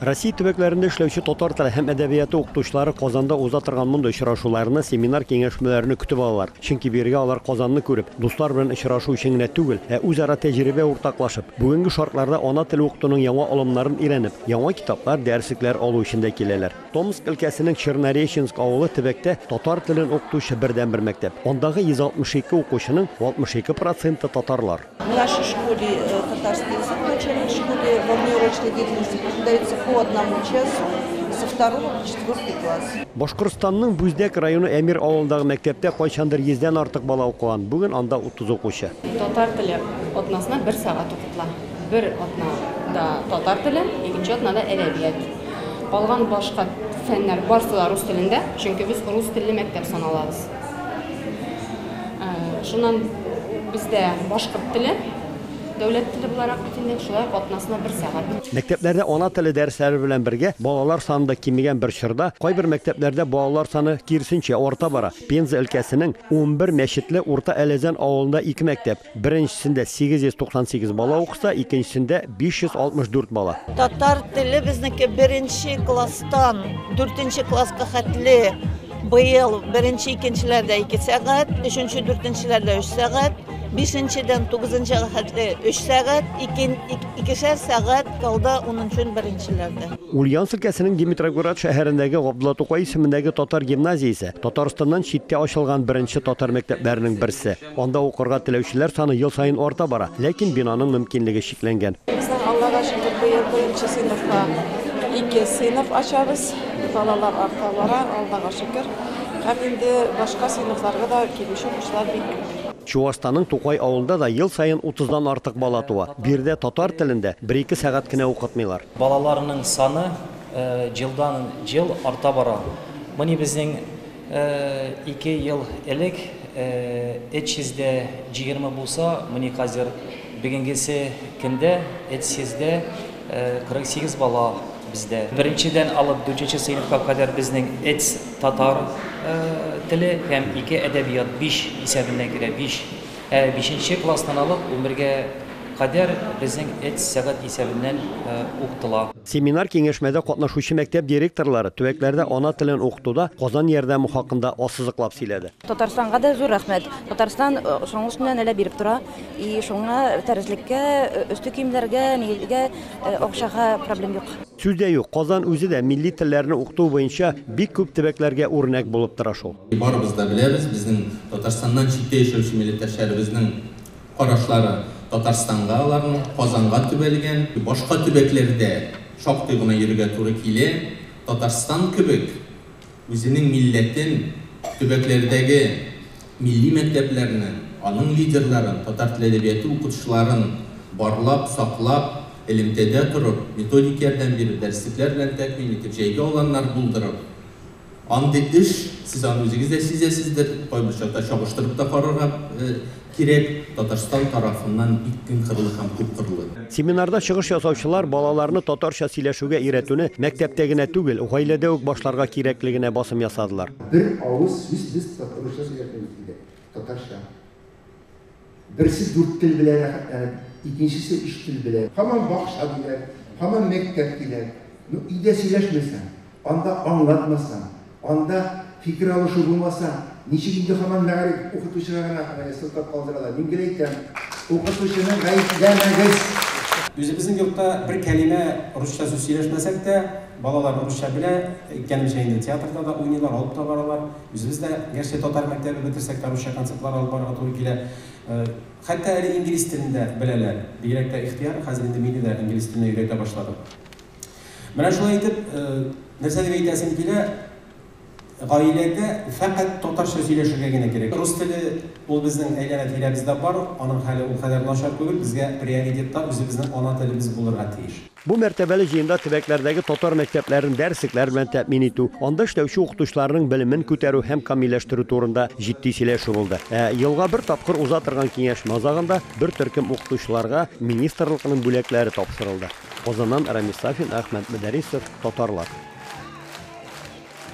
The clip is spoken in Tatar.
Россия төбәкләрендә эшләүче татар теле һәм әдәбияты укытучылары Казанда уза торган мондый очрашуларны, семинар-киңәшмәләрне көтеп алалар. Чөнки бирегә алар Казанны күреп, дуслар белән очрашу өчен генә түгел, ә үзара тәҗрибә уртаклашып, бүгенге шартларда ана теле укытуның яңа алымнарын өйрәнеп, яңа китаплар, дәреслекләр алу өчен дә киләләр. Томск өлкәсенең Чернореченск авылы төбәктә татар телен укытучы бердәнбер мәктәп. Андагы 162 укучының 62 проценты татарлар. В нашей школе э, татарский язык в начальной школе во внеурочной деятельности преподается по одному часу со второго по четвертый класс. Башкортстанның Бүздәк районы Әмир авылындагы мәктәптә кайчандыр 100-дән артык бала укыган. Бүген анда 30 укучы. Татар теле атнасына бер сәгать укытыла. Бер атнада татар теле, икенче атнада әдәбият. Калган башка фәннәр барсы да рус телендә, чөнки без рус телле мәктәп саналабыз. Шуннан бездә башкорт теле дәүләт теле буларак бит инде, шулай ук атнасына бер сәгать. Мәктәпләрдә ана теле дәресләре белән бергә балалар саны да кимегән бер чорда, кайбер мәктәпләрдә балалар саны, киресенчә, арта бара. Пенза өлкәсенең унбер мәчетле Урта Әләзән авылында ике мәктәп, Беренчесендә 898 бала укыса, икенчесендә 564 бала. Татар теле безнеке беренче класстан дүртенче класска хәтле быел беренче икенчеләрдә ике сәгать, өченче дүртенчеләрдә өч сәгать, бишенчедән тугызынчыга хәтле өч сәгать, икешәр сәгать калды унынчы беренчеләрдә. Ульяновск өлкәсенең Димитрогород шәһәрендәге Габдулла Тукай исемендәге татар гимназиясе Татарстаннан читтә ачылган беренче татар мәктәпләренең берсе. Анда укырга теләүчеләр саны ел саен арта бара, ләкин бинаның мөмкинлеге чикләнгән. Безнең, Аллага шөкер, быел беренче сыйныфка ике сыйныф ачабыз. Балалар арта бара, Аллага шөкер. Һәм инде башка сыйныфларга да килүче укучылар бик күп. Чуашстанның Тукай авылында да ел саен утыздан артык бала туа. Биредә татар телен дә бер-ике сәгать кенә укытмыйлар. Балаларның саны елдан-ел арта бара. Моны безнең Ике ел элек эт чездә җигерме булса, мени хәзер бегенгесе кендә эт сездә кырык сигез бала бездә. Беренчедән алып дүртенче сыйныфка кадәр безнең эт татар теле һәм ике әдәбият, биш исәбенә керә, биш. Ә бишенче класстан алып унбергә кадәр безнең эт сәгать исәбеннән уктыла. Семинар-киңәшмәдә катнашучы мәктәп директорлары төбәкләрдә ана телен укытуда Казан ярдәме хакында ассызыклап сөйләде. Татарстанга да зур рәхмәт. Татарстан чаңгы өстеннән әле биреп тора. И шуңа дәреслеккә, өске киемнәргә, нигезгә, акчага проблем юк. Сүз дә юк, Казан үзе дә милли телләрне укыту буенча бик күп төбәкләргә үрнәк булып тора шул. Барыбыз да беләбез, безнең Татарстаннан читтә яшәүче милләттәшләребезнең карашлары Татарстанга аларның Казанга төбәлгән, башка төбәкләрдә шактый гына йөрергә туры килә. Татарстан кебек үзенең милләтен, төбәкләрдәге милли мәктәпләрне, аның лидерларын, татар теле әдәбияты укытучыларын барлап, саклап, элемтәдә торып, методик ярдәм биреп, дәреслекләр белән тәэмин итеп, җәйге аланнар булдырып, Андый эш, сез аны үзегез дә сизәсездер, кайбер чакта чагыштырып та карарга кирәк, Татарстан тарафыннан бик киңкырлы һәм күпкырлы. Семинарда чыгыш ясаучылар балаларны татарча сөйләшүгә өйрәтүне мәктәптә генә түгел, гаиләдә үк башларга кирәклегенә басым ясадылар. Бер авыз сүз без татарча сөйләшәбез, диде. Татарча. Берсе дүрт тел белән рәхәтләнеп, икенчесе өч тел белән. Һаман бакча диләр, һаман мәктәп диләр. Ну, өйдә сөйләшмәсәң, анда аңлатмасаң, анда фикер алышу булмаса, ничек инде һаман мәгариф укытучыга гына менә сылтап калдыралар. Мин гел әйтәм, укытучыны гаепләмәгез. Үзебезнең йортта бер кәлимә русча сүз сөйләшмәсәк тә, балалар русча белә, әйткәнемчә инде, театрда да уйныйлар, алып та баралар. Үзебез дә гәрчә татар мәктәбе бетерсәк тә русча концертлар алып барырга туры килә. Хәтта әле инглиз телен дә беләләр. Бигрәк тә ихтыяр, хәзер инде мине дә инглиз теленә өйрәтә башлады. Менә шулай итеп, нәрсә дип әйтәсем килә, гаиләдә фәкать татарча сөйләшергә генә кирәк. Рус теле ул безнең әйләнә-тирәбездә бар, аның хәле ул кадәр начар түгел, безгә приоритетта үзебезнең ана телебез булырга тиеш. Бу мәртәбәле җыенда төбәкләрдәге татар мәктәпләрен дәреслекләр белән тәэмин итү, анда эшләүче укытучыларның белемен күтәрү һәм камилләштерү турында җитди сөйләшү булды. Ә елга бер тапкыр уза торган киңәшмә азагында бер төркем укытучыларга министрлыкның бүләкләре тапшырылды. Казаннан Рамис Сафин, Әхмәт Мөдәрисов, Татарлар.